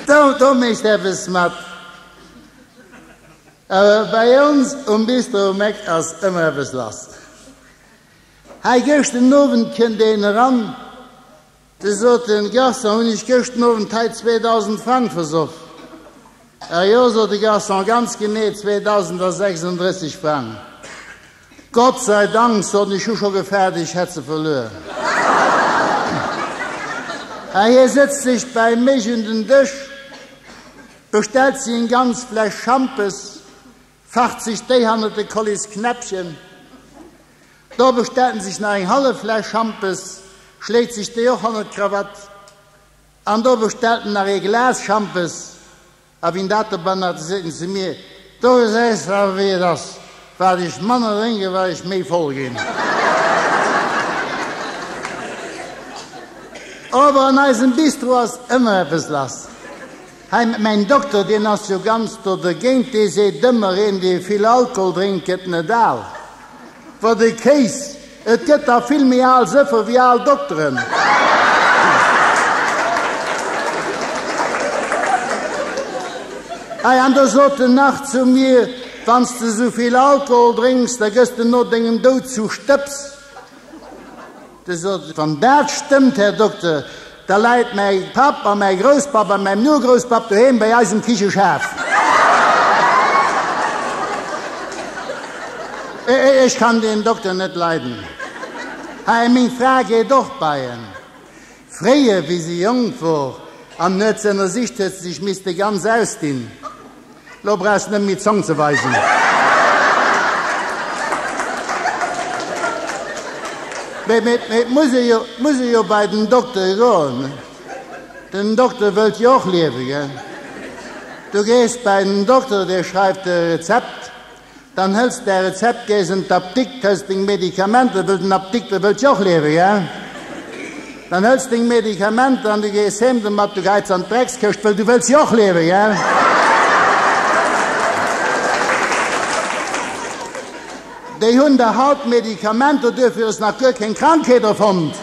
Do do mécht eppes mat. Awer bei ons um Bistro um Eck ass ëmmer eppes lass. Hei gëscht den Owend kënnt een eran, de sot de Garçon, hunn ech gëscht den Owend hei 2.000 Frang versoff? A jo, sot de Garçon, ganz genee 2.036 Frang. Gott sei Dank, soten ech, hu scho gefaart ech hätt se verluer. A hie sëtzt sech bäi mech un den Dësch, bestellt seng ganz Fläsch Schampes, facht sech déi hannert de Kollisknäppchen, do bestellt en sech nach eng hallef Fläsch Schampes, schléit sech déi och hannert d'Krawatt an do bestellt en nach ee Glas Schampes. A wien dat de bannert sin se mir. Do gesäis de awer wéi et ass, wat ech manner drénken, wat ech méi voll gin. Awer an eisem Bistro ass ëmmer eppes lass. Hei mat mäin Dokter, deen ass jo ganz do dergéint, dee seet ëmmer, een dee vill Alkohol drénkt gët net al. Wat e Kéis! Et gëtt der vill méi al Sëffe wéi al Dokteren. Hei an do sot en nach zu mir, Wann s de sou vill Alkohol drénks, da gëss de no dengem Doud zu Stëbs. Du sot ech, Wann dat stëmmt, Här Dokter, Da läit mäi Papp a mäi Grousspapp a mäin Urgrousspapp doheem bei eisem Kicheschef. Ech kann deen Dokter net leiden. Hä, meng Fra geet och bei en. Fréier, wéi si jonk wor an huet ze ënnersicht, huet se sech misste ganz ausdinn. Lo brauchs net méi Zong ze weisen. Mee mee et muss ee jo muss ee jo bei den Dokter goen. Den Dokter wëllt jo och liewen, gell? Du gees bei den Dokter, dee schreift der e Rezept Dann hëls däi Rezept, gees an d'Apdikt, hëls deng Medikamenter, wëll den Apdikter wëllt jo och liewen, gell? Dann hëls deng Medikamenter an du gees heem domat, du geits an d'Dreckskëscht, wëll du wëlls jo och liewen, gell? Déi hunn der haut Medikamenter, duerfir ass nach guer keng Krankheet erfonnt.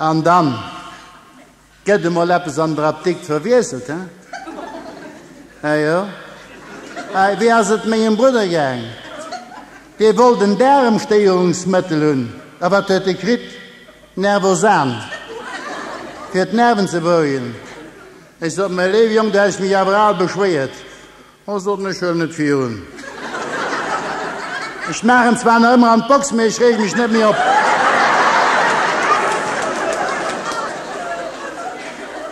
An dann? Gett emol eppes an der Apdikt verwiesselt, he? Ah jo? Hei, wéi ass et mengem Brudder gaang? Dee wollt en Daaremstéierungsmëttel hunn. A wat huet e kritt? Nervosan, fir d'Nerven ze berouegen. Ech sot, Mä léiwe Jong, du häss mech awer al beschwéiert, Ech soten, ech huelen et virun. Ech maachen zwar nach ëmmer an d'Box, mee ech reege mech net méi op.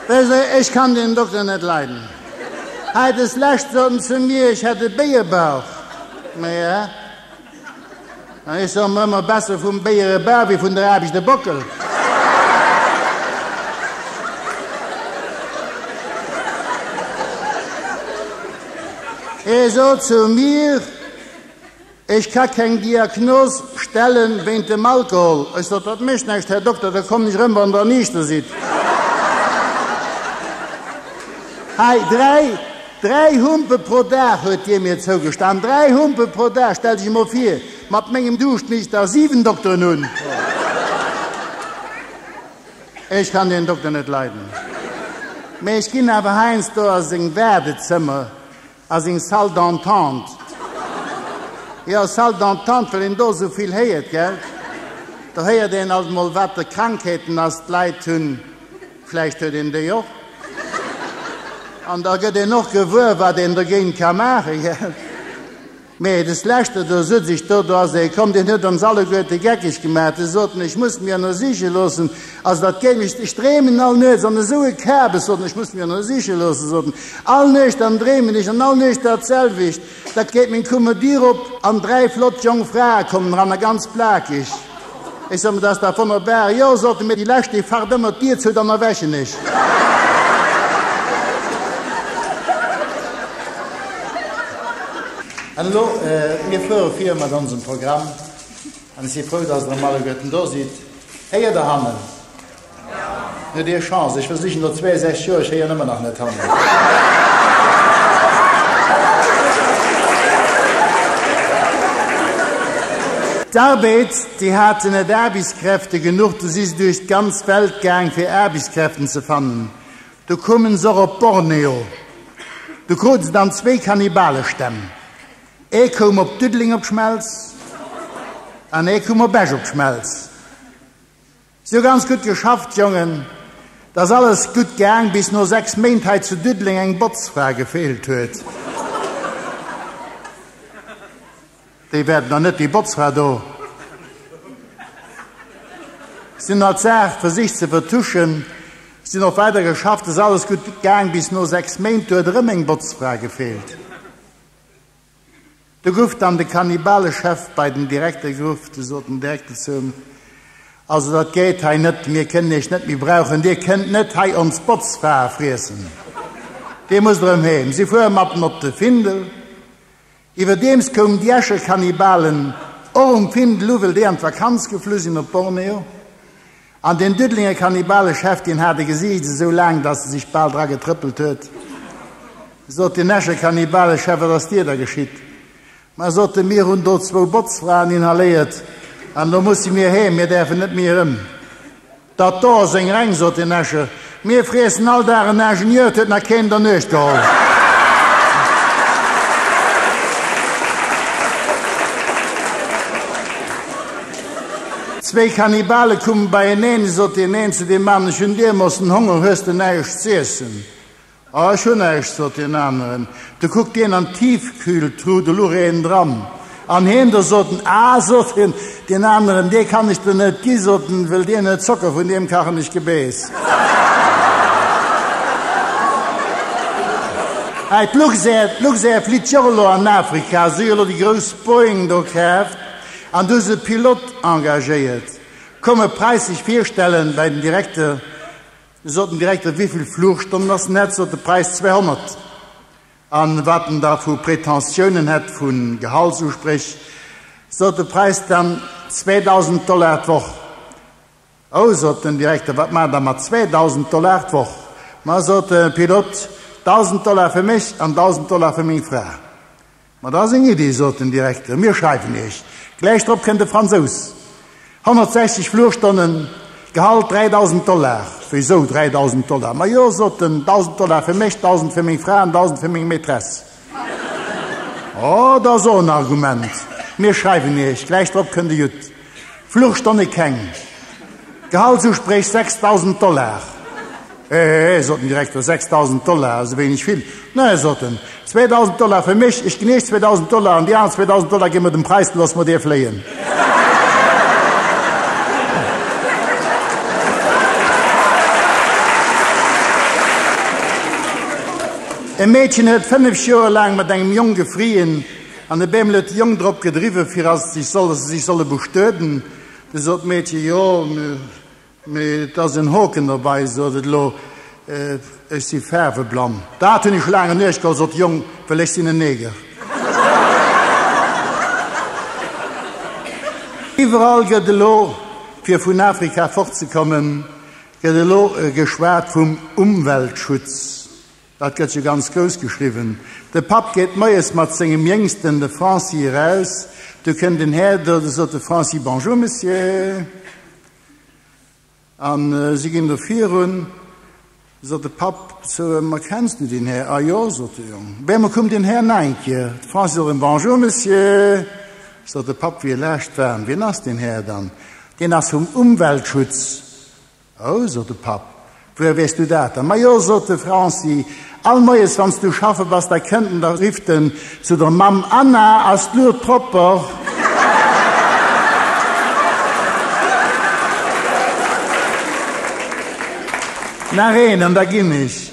Wësst Der, ech kann deen Dokter net leiden. Hei deslescht sot en zu mir, ech hätt e Béiebauch. Maja. Ech soe mer ëmmer besser vum Béier e Bar wéi vun der Aarbecht e Bockel. E sot zu mir, Ech ka keng Diagnos stellen wéint dem Alkohol. Ech sot, Dat mécht näischt, Här Dokter, da kommen ech erëm, wann Der niichter sidd. Hei 3. Dräi Humpe pro Dag, huet hie mir zougestan, dräi Humpe pro Dag! Stell dech emol vir, mat mengem Duuscht misst der siwen Dokteren hunn. Ech kann deen Dokter net leiden, mee ech ginn awer heiansdo a seng Waardezëmmer, a seng Salle d'entente. Jo, Salle d'entente, well een do esou vill héiert, gell? Do héiert een alt emol, wat fir Krankheeten ass d'Leit hunn. Vläicht huet een déi och. An da gëtt een och gewuer, wat een dogéint ka maachen, gell? Mee des Leschte do sot ech, do, do ass ee komm, deen huet ons alleguerte geckeg gemaach. De sot en, ech muss mir ënnersiche loossen. Also, dat géing ech, ech dreemen all Nuechts an esou e Kabes, sot en, ech muss mir ënnersiche loossen, sot en, all Nuecht an dreemen ech an all Nuecht datselwecht. Dat geet meng Kumme Diir op an dräi flott jong Frae kommen eran a ganz plakeg, Ech soe mer, dat ass dach wonnerbar, jo soten mir, déi lescht déi facht ëmmer d'Diir zou, dann erwächen ech. An elo, mir fuere vir mat onsem Programm an ech si frou, datt Der emol alleguerten do sidd. Héiert Der hannen? Huet ee Chance, ech versichen no 62 Joer, ech héieren ëmmer nach net hanne. D'Arbeit, déi haten net Aarbechtskräfte genuch, du si se duerch d'ganz Welt gaang fir Aarbechtskräften ze fannen. Du koumen se och op Borneo. Du krute se dann zwéi Kannibalestänn, ee koum op Diddeleng op d'Schmelz an ee koum op Esch op d'Schmelz. Sou ganz gudd geschafft Jongen. D'ass alles gudd gaang bis no 6 Méint hei zu Düddleng eng Botzfra gefeelt huet. Déi wäert nach net déi Botzfra do sin hat d'Saach versicht ze vertuschen. Sin och weider geschafft. Ass alles gudd gaang bis no 6 Méint. Do huet erëm eng Botzfra gefeelt. Do gouf dann de Kannibalechef bei den Direkter geruff. Do sot den Direkter zu him, Also dat geet hei net, mir kënnen Iech net méi brauchen, Dir kënnt net hei ons Botzfrae friessen, Dir musst erëm heem. Si fuere mat en op de Findel. Iwwerdeems koumen déi Escher Kannibalen och um Findel u, well déi an d'Vakanz geflu sinn op Borneo. An deen Diddelénger Kannibale-Chef, deen hat e Gesiicht esou laang, datt e sech bal dra getrëppelt huet. Sot deen Escher Kannibale-Chef, Wat ass dir da geschitt? Ma, sot e, mir hunn do zwou Botzfraen inhaléiert an elo musse mir heem, mir däerfen net méi erëm. Dat do ass eng Reng, sot deen Escher. Mir friessen all Dag en Ingenieur, et huet nach keen der Nuecht geholl. Zwee Kannibale kumen beieneen, et sot deen een zu deem aneren, ech hunn Dier, mossen Honger, hues de näischt z'iessen? Oh, ech hunn näischt, sot deen aneren. Du kuckt hien an d'Tiefkühltruh, do luch een dran. An hien do? sot en. Ah, sot hien, deen aneren, dee kann ech der net ginn, sot en, wëll deen huet Zocker, vun deem kachen ech Gebeess. Hei, d'Luxair, d'Luxair flitt jo och elo an Afrika. Si hu jo elo déi grouss Boeing do kaaft an do hu se Pilote engagéiert. Komm e Präis sech virstellen bei den Direkter. Sot den Direkter, wéivill Flugstonnen ass net, sot de Präis 200. An wat en da vu Prétentionen hätt, vu Gehaltsuspréch, sot de Präis dann 2000 Dollar d'Woch. Oh, sot den Direkter, wat maacht der mat 2000 Dollar d'Woch? Ma, sot de Pilot, 1000 Dollar fir mech an 1000 Dollar fir meng Fra. Ma dat ass eng Iddi, sot den Direkter, mir schreiwen Iech. Gläich drop kënnt e Fransous. 160 Flugstonnen, Gehalt 3.000 Dollar. Wéisou 3.000 Dollar? Ma jo, sot en, 1.000 Dollar fir mech, 1.000 fir meng Fra an 1.000 fir meng Maîtresse. Oh, dat ass och en Argument, mir schreiwen Iech. Gläich drop kënnt e Judd. Fluchstonne keng. Gehaltsuspréch 6.000 Dollar. Hehehe, sot den Direkter, 6.000 Dollar, esou wéineg vill? Nä, sot en, 2.000 Dollar fir mech, ech ginn iech 2.000 Dollar an déi aner 2.000 Dollar gi mer dem Preißel, loosse mer dee fléien. E Meedchen huet 5 Joer laang mat engem Jong gefrieen. An e bemlet d'Jong drop gedriwwe fir ass sech solle se sech solle bestueden. Du sot d'Meedche, Jo, mee et ass en Hoken derbei, sot et, Lo, ech si faarweblann. Dat hunn ech laang genuecht, gol, sot d'Jong, well ech sinn en Neger. Iwwerall gëtt elo, fir vun Afrika fortzekommen, gëtt elo geschwat vum Umweltschutz. Dat gëtt jo ganz grouss geschriwwen. De Papp geet moies mat sengem Jéngsten, de Franci, eraus. Du kënnt den Här do, du sot de Franci, Bonjour, Monsieur. A si ginn do virun. Sot de Papp zu ëm, Erkenns du den Här? A jo, sot de Jong. Bé, ma koum den Här na eng Kéier. De Franci sot erëm, Bonjour, Monsieur. Sot de Papp, wéi e laascht war, Wien ass den Här dann? Deen ass vum Umweltschutz. Oh, sot de Papp, wouer weess du dat dann? Majo, sot de Franci, all Moies, wann s du schaffe bass, da kënnt en, da rifft en zu der Mamm, Anna, ass d'Luut propper? Nach een, an da ginn ech.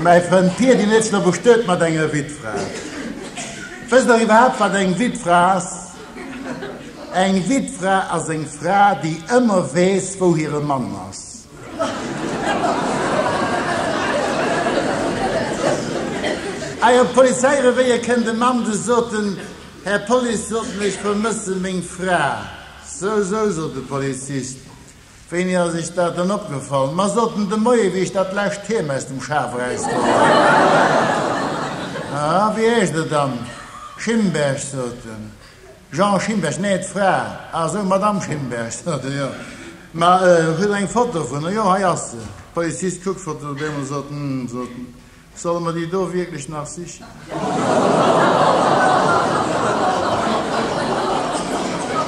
Mäi Frënd Pier, deen ech lo bestuet mat enger Wittfra. Wësst Der iwwerhaapt, wat eng Wittfra ass? Eng Wittfra ass eng Fra, déi ëmmer weess, wou hire Mann ass. Hei op d'Polizeirevéier kënnt e Mann, dee sot, Den Här Police, soten, ech vermëssen meng Fra. Sou, sou, sot de Polizist, Wéini ass iech dat dann opgefall? Ma sot en de Moie wéi ech dat lescht d'Heem aus dem Schaf erausgeholl hat. A wéi heescht et dann? Schimberg, sot en. Jean Schimberg? Nee, d'Fra. A sou, Madame Schimberg, sot en. Jo. Ma hutt der eng Foto vun der? Jo, hei ass se. D'Polizist kuckt d'Foto deemools, sot, Hm, sot en. Solle mer déi do wierklech nach sichen?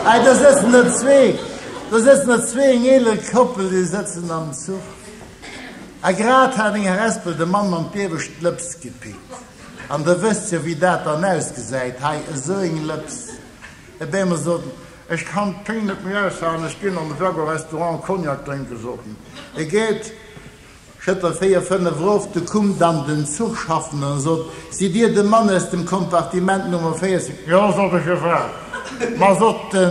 Hey, do sëtzen der zwee, do sëtzen der zwee, eng eeler Koppel, déi sëtzen am Zuch. A grad hat eng Harespel de Mann mam Biewesch d'Lëps gepickt. An der wësst jo, wéi dat dann ausgesäit, hei, esou eng Lëps. E Beamer sot en, Ech kann d'Péng net méi aushalen, ech ginn an de Jaguar-Restaurant Cognac drénken, sot en. E geet Schëtter véier, fënnef erof, du kumm dann den Zuchschaffenden a sot, Sidd dir de Mann aus dem Kompartiment Nummer 40? Jo, sot ech, jo Fra. Ma, sot de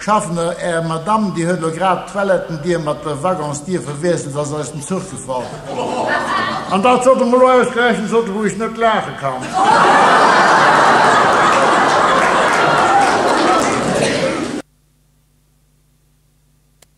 Schaffende, är Madame, déi huet elo grad d'Toilettendier mat der Waggonsdier verwiesselt, se ass aus dem Zuch gefall. An dat sollt emol elo ausgerechent, sot ech, wou ech net laache kann.